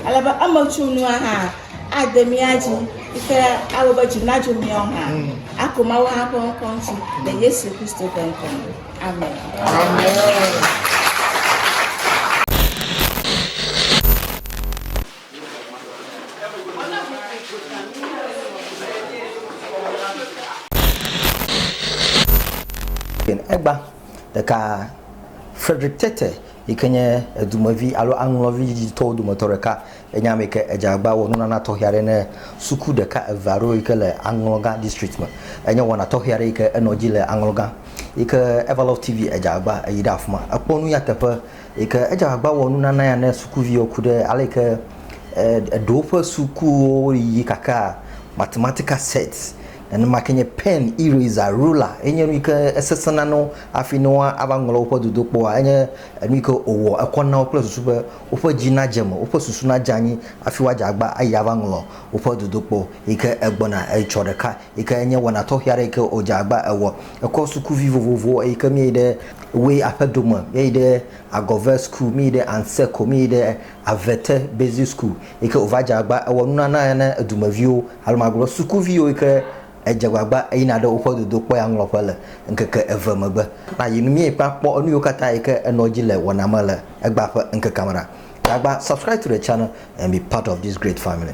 Ale be emetsunua hã ade mía dzi yi ke awɔ be dzi nadzo mía ŋu hã ako Mawu hã ƒe ŋkɔ ŋuti le Yesu Kristo ƒe ŋkɔ me. Amen. Egba. Ɖeka, Frederick Tete yi ke nye edumevi alo aŋlɔvi diditɔwo dometɔ ɖeka ye nye ame yi ke edze agbagba wɔ nunana tɔxɛ aɖe ne suku ɖeka eve aɖewo yi ke le aŋlɔgã district me. Enye wɔna tɔxɛ aɖe yi ke enɔ edzi le aŋlɔgã yi ke Everlove TV edze agbagba eyi ɖe afi ma. Ekpɔ nu ya teƒe yi ke edze agbagba wɔ nunana ya ne sukuviwo ku ɖe ale yi ke e eɖewo ƒe sukuwo yiyi kakaa mathematical set. Nenema ke nye pen, eraser, ruler ye nye nu yi ke esesẽna na wo hafi ne woava ŋlɔ woƒe dodokpɔa, enye enu yi ke wòwɔ ekɔ na wo kple susu be woƒe dzi nadze eme, woƒe susu nadze anyi hafi woadze agba ayi aɖaŋlɔ woƒe dodokpɔ yi ke egbɔna. Etsɔ ɖeka yi ke nye wɔna tɔxɛ aɖe yi ke wòdze agba ewɔ. Ekɔ sukuvi vovovowo eyi ke míeyi ɖe Way aƒedo me, míeyi ɖe Agɔvɛ School, míeyi ɖe Anseko, míeyi ɖe Avete Basic School yi ke wòva dze agbagba ewɔ nunana na edumeviwo alo magblɔ sukuviwo yi ke edze agbagba eyina ɖe woƒe dodokpɔya ŋlɔƒe le ŋkeke eve megbe. Na yi nu mí kpɔ akpɔ enu yiwo katã yi ke enɔ dzi le wɔna me le egbea ƒe ŋkekea me ɖa. Gagba subscribe to the channel and be part of this great family.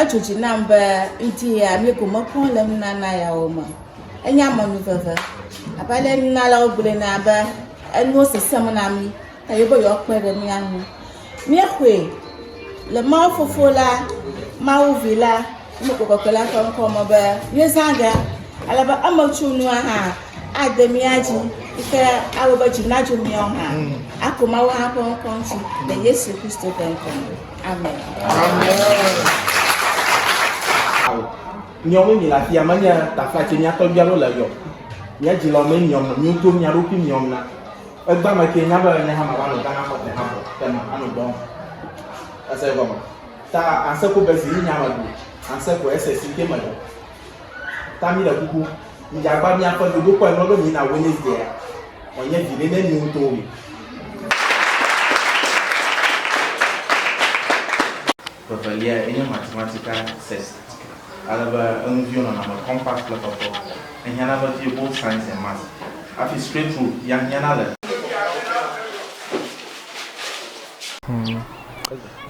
Edzo dzi nam be ŋdi ya mi ko mekpɔ le nunana yawo me. Enye amenu veve. Abe ale nunalawo gblɔe na be enuwo sesem na mi eye be yewoakpe ɖe mía ŋu. Míexɔe le Mawu Fofo la, Mawu Vi la, Mawu Kɔkɔe la ƒe ŋkɔ me be míezã ge ale be emetsunua hã ade mía dzi yi ke awɔ be dzi nadzo míawo hã. Ako Mawu hã ƒe ŋkɔ ŋuti le Yesu Kristo ƒe ŋkɔ me. Amen. Nyɔnu mi le afi ya, menya tafla tse mía tɔgbia ɖo le yɔ. Mía dzi lɔ me nyɔm na, mí do mía ɖokui nyɔm na. Egba me ke nya be ne hã ma va nɔ Ghana fɔte hã bɔ, te ma anɔ dɔ. Ese gɔme. Ta anse ko be zi yi nya me do, anse ko ese si ke me do. Ta mi le kuku mi dza gba mia ƒe dodo kpɔ enɔ be mi na Wednesday ya. Wɔ nye vi ɖe ne mi ŋutɔ wo mi. Vevelia ye nye matematika sesd. Ale be enu viwo nɔna me compact kple kpɔtɔ. Ehiana vevie both science and maths. Afi straight through ya hiana le.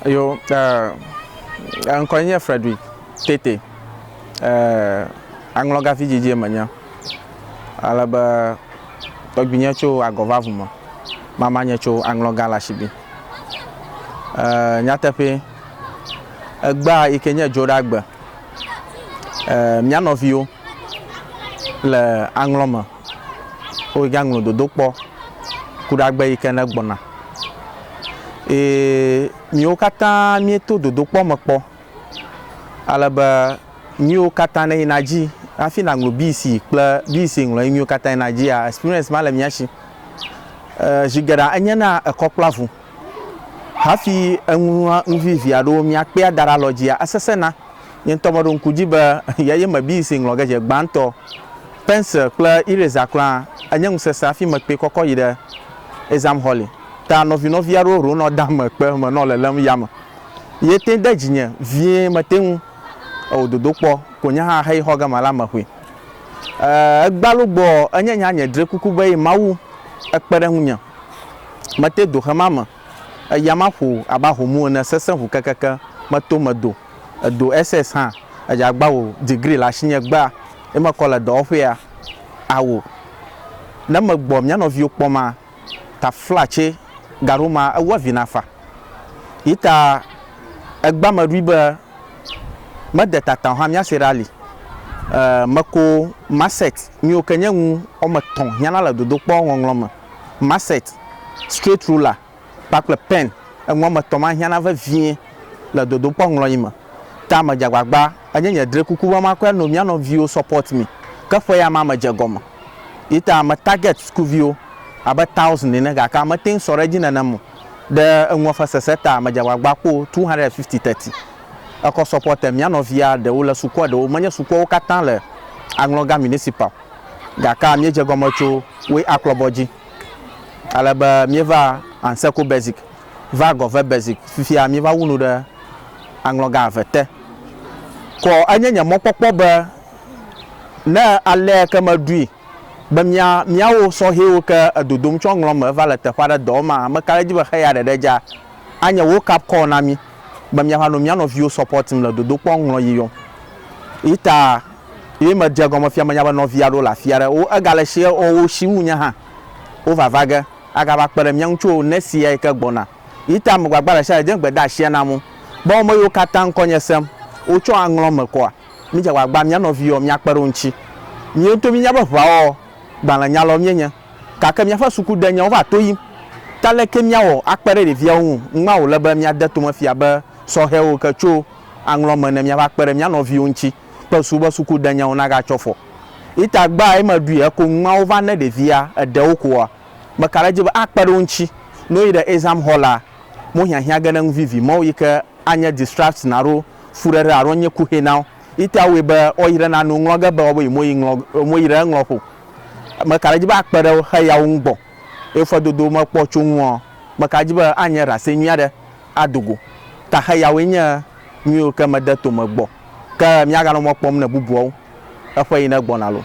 Yo, eh, eŋkɔe nye Frederick Tete. aŋlɔgafi dzidzie menye, ale be tɔgbuinye tso agɔ va vu me, mamanye tso aŋlɔga le asibi. Nyateƒe, egbea yi ke nye Dzoɖagbe, mía nɔviwo le aŋlɔ me, woyi aŋlɔ dodokpɔ ku ɖe agbe yi ke ne gbɔna. Eye míwo katã míeto dodokpɔ me kpɔ Ale be nuyiwo katã ne yina dzi hafi na ŋlo BC kple BC ŋlɔ nuyiwo katã yina dzia, experience ma le mía si. Zi geɖe enye na ekɔ kple avu. Hafi eŋlɔa nu vivi aɖewo mía kpea da ɖe alɔ dzia, esese na. Nye ŋutɔ meɖo ŋku dzi be ya ye me BC ŋlɔ ge dze gbãtɔ. Pencil kple eraser kura enye nu sese hafi me kpɔe kɔkɔ yi ɖe exam hɔli. Ta nɔvi nɔvi aɖewo ronɔ da me kpe me nɔ lelem yame. Ye tẽ de dzinye vie mete ŋu ewò dodo kpɔ ko nye hã heyi xɔ gama la me ƒui. E, egbalo gbɔ enye nya nye dre kuku be yi Mawu ekpe ɖe ŋunye. Mete do xe ma me, eya ma ƒo abe ahomu ene sesẽ ŋu kekeke meto me do. Edo SS hã. Edze agba wò degree le asinye egbea ye mekɔ le dɔwɔƒea. Ao, ne megbɔ mía nɔviwo kpɔm a. tafla tsɛ gaɖo ma ewu avi na fa. Yi ta egba me ɖui be mede tata o hã míase ɖe ali. E meko Masset miwo ke nye nu wɔme etɔ̃ hiana le dodokpɔ ŋɔŋlɔ me. Masset, straight ruler kpakple pen. Enu wɔme etɔ̃ ma hiana vevie le dodokpɔ ŋlɔyi me. Ta medze agbagba enye nye drekuku be makɔe no mía nɔviwo support mi. Ke ƒe ya ma medze egɔme. Ye ta me target sukuviwo abe thousand ene gake mete ŋu sɔ ɖe edzi nenem o. Ɖe eŋua ƒe sese ta medze agbagba kpɔ two hundred and fifty teti. Ekɔ supporter mía nɔvia ɖewo le sukua ɖewo menye sukuawo katã le Aŋlɔga Municipal gake míedze egɔme tso woe aklɔbɔ dzi ale be míeva Anseko Basic va Gɔve Basic fifia míeva wu nu ɖe Aŋlɔga eve te. Kɔ enye nye mɔkpɔkpɔ be Ne alea ke meɖui be mía míawo sɔhɛwo ke edodom tsɔ ŋlɔ me va le teƒe aɖe dɔ wɔm aa, meka ɖe edzi be xeya ɖeɖe dza anye wokeup call na mí be míava nɔ mía nɔviwo supportim le dodokpɔ ŋlɔ yi yɔm yi ta ye medze egɔme fia menya be nɔvi aɖewo le afi aɖe wo ega le share ɔ wo shi wu nye hã wova va ge agava kpe ɖe mía ŋu tso next year yi ke gbɔna yi ta megbagba ɖe sia ɖe de gbedeasia nam o be ame yiwo katã ŋkɔnye sem wotsɔ aŋlɔ me kɔa. Mídze agbagba mía nɔviwo míakpe ɖe wo ŋuti. Míwo ŋutɔ míenya be ʋeawɔwɔ gbalẽnyalawo míenye, gake míaƒe sukudenyawo va to yim. Ke aleke míawɔ akpe ɖe ɖeviawo ŋu? Ŋmma wòle be míade tome fia be sɔhɛwo ke tso aŋlɔ me ne míava kpe ɖe mía nɔviwo ŋuti kple susu be sukudenyawo nagatsyɔ afɔ. Ita gbea eme ɖui eko ŋmma wova ne ɖevia eɖe wo koa, meka ɖe edzi be akpe ɖe wo ŋuti. Ne woyi ɖe exam hɔlaa, mohiahiã ge ɖe eŋu vivi mɔwo yi ke anye distraction alo fuɖeɖe alo nye kuxi na wo. Yi tea wui be woyre na nu ŋlɔ ge be woabe yi moyi ŋlɔ e moyre eŋlɔ ƒo. Meka ɖe edzi be akpe ɖe wo xe ya wo ŋu gbɔ ye fedodo mekpɔ tso ŋuɔ? Meka ɖe edzi be anye ɖase nyui aɖe ado go ta xe yawoe nye nu yiwo ke mede to me gbɔ. Ke míaganɔ mɔ kpɔm ne bubuawo eƒe yi ne gbɔna loo.